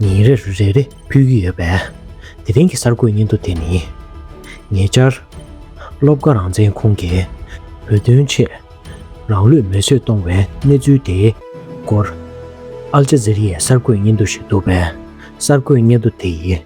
ཉིན་རེར་རེ་རེ་ཕུལ་གྱི་ཡོད་པས། དེ་རིང་གི་གསར་འགོད་སྙན་ཐོ་དེ་ནི། ཉེ་ཆར། སློབ་དགའ་རང་བཙན་ཁོང་གིས་བོད་དོན་ཆེད་རང་ལུས་མེ་གསོད་གཏོང་བའི་གནས་ཚུལ་དེའི་སྐོར། ཨལ་ཇཱ་ཛེ་རི་ཡའི་གསར་འགོད་སྙན་ཐོ་ཞིག་འདུག་པས་གསར་འགོད་སྙན་ཐོ་དེ་ཡི་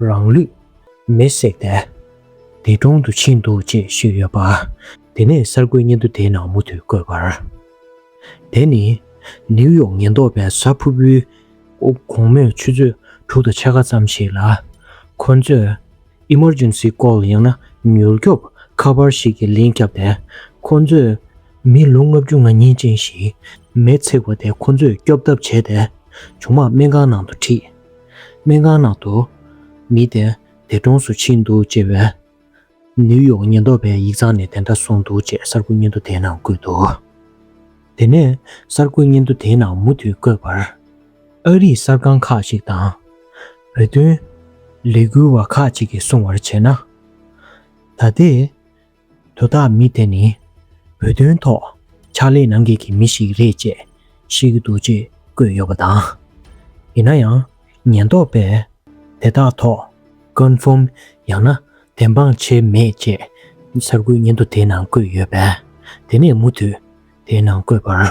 རང་ལུས་མེ་བསྲེགས་ཏེ་འདས་གྲོངས་དུ་ཕྱིན་འདུག་ཅེས་ཤོད་ཡོད་པ། དེ་ནས་གསར་འགོད་སྙན་ཐོ་དེའི་ནང་མུ་མཐུད་བཀོད་པར། དེ་ནི་ནེའུ་ཡོག་ཉེན་རྟོག་པའི་གཟའ་ཕུར་བུའི་དགོང་མོའི་ཆུ་ཚོད་དྲུག་དང་ཕྱེད་ཀ་ཙམ་ཞིག་ལ། ཁོ་ཚོས Emergency Call ཡང་ན་མྱུར་སྐྱོབ་ཁ་པར་ཞིག་གི་ལན་བརྒྱབ་སྟེ། ཁོ་ཚོས་མི་ལོ་ལྔ་བཅུ་ང་གཉིས་ཅན་ཞིག་མེ་བསྲེགས་པ་དེ་ཁོ་ཚོས་སྐྱོབ་ཐབས་བྱས་ཏེ། ཆུང་མ་སྨན་ཁང་ནང་དུ་ཁྲིད། སྨན་ཁང་ནང་དུ། མི་དེ་འདས་གྲོངས་སུ་ཕྱིན་འདུག་ཅེས་པའི། ནིའུ་ཡོག་ཉེན་རྟོག་པའི་ཡིག་ཚང་ནས་དེ་འདྲ་སོང་འདུག་ཅེས་གསར་འགོད་སྙན་ཐོ་དེའི་ནང་བཀོད་འདུག་དེ་ནས་གསར་འགོད་སྙན་ཐོ་དེའི་ནང་མུ་མཐུད་བཀོད་པར། ཨ་རིའི་གསར་ཁང་ཁག་ཅིག་དང། བོད་དོན། ལས་འགུལ་བ་ཁག་ཅིག་གིས་གསུང་བར་བྱས་ན། ད་ལྟའི། དོ་བདག་མི་དེ་ནི་བོད་དོན་ཐོག་ཕྱག་ལས་གནང་མཁན་གྱི་མི་ཞིག་རེད་ཅེས་བཤད་ཀྱི་འདུག་ཅེས་བཀོད་ཡོད་པ་དང། ཡིན་ན་ཡང་ཉེན་རྟོག་པས་དེ་དག་ཐོག Confirm ཡང་ན་བདེན་དཔང་བྱས་མེད་ཅེས་གསར་འགོད་སྙན་ཐོ་དེའི་ནང་བཀོད་ཡོད་པས་དེ་ནས་མུ་མཐུད་དེའི་ནང་བཀོད་པར།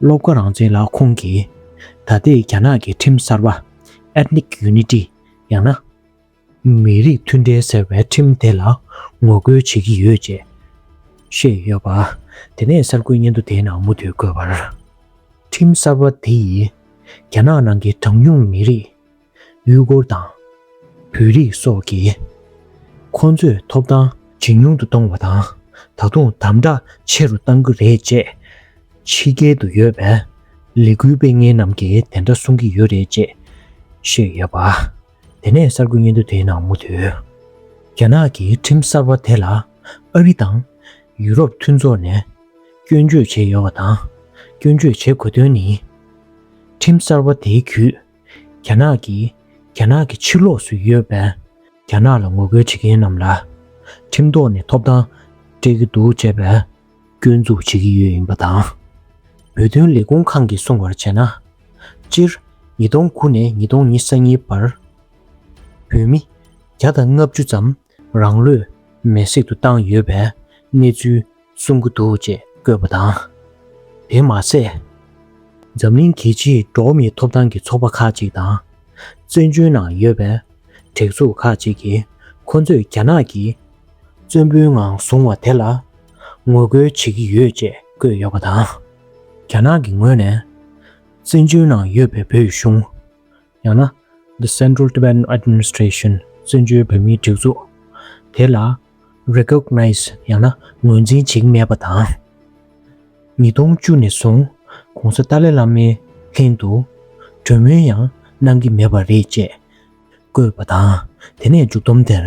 སློབ་དགའ་རང་བཙན་ལ་ཁོང་གིས། ད་ལྟའི་རྒྱ་ནག་གི་ཁྲིམས་གསར་པ། Ethnic Unity། ཡང་ན། མི་རིགས་མཐུན་འབྲེལ་ཟེར་བའི་ཁྲིམས་དེ་ལ་ངོ་རྒོལ་བྱེད་ཀྱི་ཡོད་ཅེས་བཤད་ཡོད་པ། དེ་ནས་གསར་འགོད་སྙན་ཐོ་དེའི་ནང་མུ་མཐུད་བཀོད་པར། ཁྲིམས་གསར་པ་དེ་ཡིས་རྒྱ་ནག་ནང་གི་གྲངས་ཉུང་མི་རིགས། ཡུལ་སྐོར་དང། བོད་རིགས་སོགས་ཀྱིས་ཁོང་ཚོས་ཐོབ་ཐང་ཇེ་ཉུང་དུ་གཏོང་བ་དང་ད་དུང་དམ་དྲག་ཆེ་རུ་གཏང་གི་རེད་ཅེས་ཕྱི་རྒྱལ་དུ་ཡོད་པའི་ལས་འགུལ་སྤེལ་མཁན་རྣམས་ཀྱིས་དེ་འདྲ་གསུང་གི་ཡོད་རེད་ཅེས་བཤད་ཡོད་པ། དེ་ནས་གསར་འགོད་སྙན་ཐོ་དེའི་ནང་མུ་མཐུད་རྒྱ་ནག་གི་ཁྲིམས་གསར་པ་དེ་ལ་ཨ་རི་དང་ཡུ་རོབ་མཐུན་ཚོགས་ནས་སྐྱོན་བརྗོད་བྱས་ཡོད་པ་དང་སྐྱོན་བརྗོད་བྱེད་དགོས་དོན་ནི། ཁྲིམས་གསར་པ་དེའི་བརྒྱུད་རྒྱ་ནག་གིས་རྒྱ་ནག་གི་ཕྱི་ལོགས་སུ་ཡོད་པའི་རྒྱ་ནག་ལ་ངོ་རྒོལ་བྱེད་མཁན་རྣམས་ལ་ཁྲིམས་ཐོག་ནས་ཐོབ་ཐང་སྤྲད་ཀྱི་འདུག་ཅེས་པའི་སྐྱོན་འཛུགས་བྱེད་ཀྱི་ཡོད་ཡིན་པ་དང། བོད་དོན་ལས་ཁུངས་ཁང་གིས་གསུང་བར་བྱས་ན། སྤྱིར་ཉིས་སྟོང་དགུ་ནས་ཉིས་སྟོང་ཉིས་སང་གཉིས་བར་བོད་མི་བརྒྱ་དང་ལྔ་བཅུ་ཙམ་རང་ལུས་མེ་བསྲེག་ཏུ་བཏང་ཡོད་པའི་གནས་ཚུལ་གསུང་གི་འདུག་ཅེས་བཀོད་པ་དང། དེ་མ་ཟད། འཛམ་གླིང་གི་ཕྱི་འབྲོག་མིའི་ཐོབ་ཐང་གི་ཚོགས་པ་ཁག་ཅིག་དང། བཙན་བྱོལ་ནང་ཡོད་པའི་དྲེགས་ཚོགས་ཁག་ཅིག་གིས་ཁོ་ཚོས་རྒྱ་ནག་གིས་བཙན་པོའི་ངང་བཟུང་བ་དེ་ལ་ངོ་རྒོལ་བྱེད་ཀྱི་ཡོད་ཅེས་བཀོད་ཡོད་པ་དང། རྒྱ་ནག་གི་ངོས་ནས་བཙན་བྱོལ་ནང་ཡོད་པའི་བོད་གཞུང། ཡང་ན The Central Tibetan Administration། བཙན་བྱོལ་བོད་མིའི་སྒྲིག་འཛུགས། དེ་ལ Recognize ཡང་ན་ངོས་འཛིན་བྱེད་ཀྱི་མེད་པ་དང། ཉིས་སྟོང་བཅུ་ནས་བཟུང ྋགོང་ས་ཏཱ་ལའི་བླ་མའི་ལྷན་དུ་གྲོས་མོལ་ཡང་གནང་གི་མེད་པ་རེད་ཅེས་བཀོད་པ་དང་དེ་ནས་མཇུག་བསྡོམས་དེར།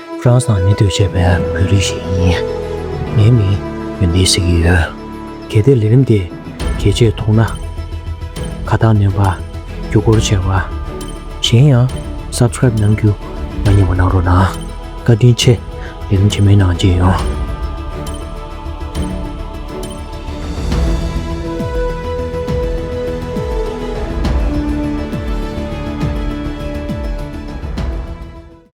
རང་སངས་མི་འདོད་བྱས་པའི་བོད་རིགས་ཤིག་ཡིན། ངའི་མིང་ཡོན་ཏན་ཟེར་གྱི་ཡོད། གལ་ཏེ་ལས་རིམ་དེ་གལ་ཆེར་མཐོང་ན། ཁ་བཏགས་ནོན་པ། རྒྱུ་སྐོར་ཆེ་བ། གཞན་ཡང Subscribe གནང་རྒྱུ་མ་རྙེད་པ་གནང་རོགས་གནང། བཀའ་དྲིན་ཆེ། ལས་རིམ་ཆེན་མོའི་ནང་རྗེས་ཡོང།